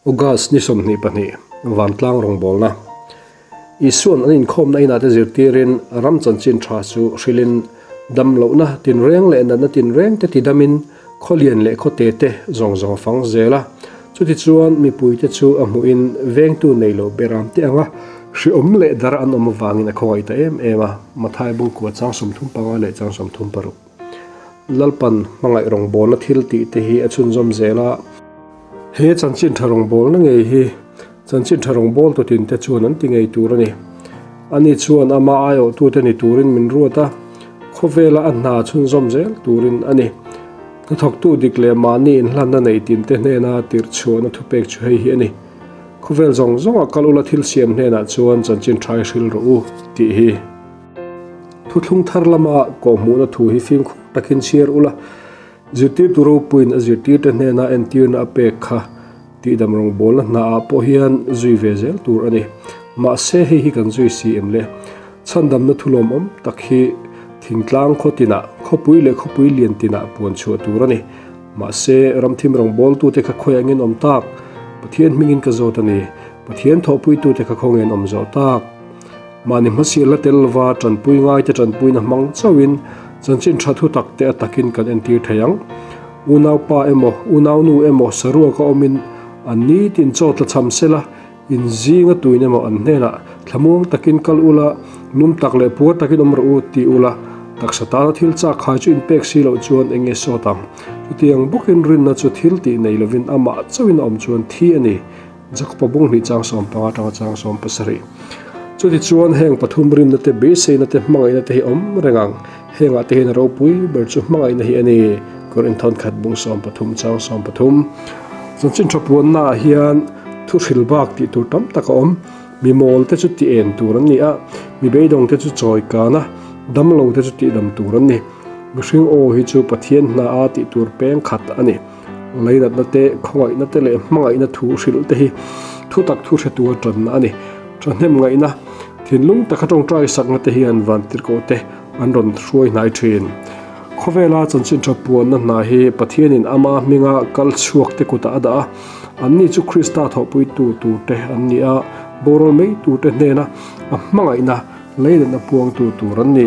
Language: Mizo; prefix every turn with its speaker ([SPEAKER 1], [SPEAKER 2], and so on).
[SPEAKER 1] August ni sawmhnih pahnih, Vantlang rawngbawlna Isuan an inkhawmna inah te zirtirin ram chanchin tha chu hrilhin damlohna tinreng leh natna tinreng te tidamin khawlian leh khawte te zawng zawng a fang zel a. Chutichuan mipuite chu a hmuhin vengtu nei lo ber ang teh anga hreawm leh dar an awm avangin a khawngaih ta em em a. Mathai bungkua chang sawmthum panga leh chang sawmthum paruk. Lalpan hmangaih rawngbawlna thil tih te hi a chhunzawm zel a. He chanchinṭha rawngbawlna ngei hi chanchinṭha rawngbâwl tutin te chuan an ti ngei tur a ni. Ani chuan ama aiawhtute ni turin min ruat a, khawvela a hna chhunzawm zel turin a ni. Hnathawktu dik leh mahni inhlanna neih tin te hnena tirhchhuahna thupek chu hei hi a ni, Khawvel zawng zawnga kal ula thil siam hnenah chuan chanchinṭha i hrilh rawh u tih hi. Thuthlung thar lama kawhhmuhna thu hi fimkhur takin chhiar ula, zirtirtu ropuiin a zirtirte hnena entirna a pek kha tih damrang bawlna hnaah pawh hian zui ve zel tur a ni. Mahse, hei hi kan zui si em le? Chhandamna thulawmawm tak hi thingtlang khaw tinah, khawpui leh khawpui lian tinah puan chhuah tur a ni. Mahse, ramthim rangbawltute kha khawiah ngenawm tak, Pathian hmingin ka zawt a ni, Pathian thawhpuitute kha khawngen awm zawh tak Mahni hmasi la tel lova tanpui ngaite tanpuina hmang chauhin chanchin tha thu takte a takin kan entir thei ang. Unaupa emaw, unaunu emaw saruaka awmin an ni tin chaw tla cham sela, inzinga tuin emaw an hnenah thlamuang takin kal ula, num tak leh puar takin awm rawh u ti ula, taksa tana thil chak khai chu inpek si loh chuan eng nge sawt ang. Chutiang bawkin rinna chu thil tih nei lovin amah chauhin a awm chuan thi a ni. Jakhupabung hnih chang sawm panga tang chang sawm pasarih. Chutichuan heng pathum rinna te beiseina te hmangaihna te hi awm reng ang. Hengah te hian ropui ber chu hmangaihna hi a ni. Kawr inthawt khat bung sawm pathum chang sawm pathum. Chanchin tha puanna ah hian thu hril bak tih tur tam tak a awm. Mimawl te chu ti en tur an ni a, mi beidawng te chu chawi kan a, damlo te chu tihdam tur an ni. Mihring aw hi chu Pathian hna a tih tur peng khat a ni. Ngairatna te, khawngaihna te leh hmangaihna thu hrilh te hi thutak thu hre tura tanna a ni. Thahnem ngaihna, thinlung takha tawngtai sakna te hian vantirhkoh te an rawn hruai hnai thin. Khawvela chanchin tha puanna hna hi Pathianin ama hminga kal chhuak te kutah a dah a. Anni chu Krista thawhpuitu tur te an ni a, boral mei tur te hnena a hmangaihna, ngairatna puangtu tur an ni.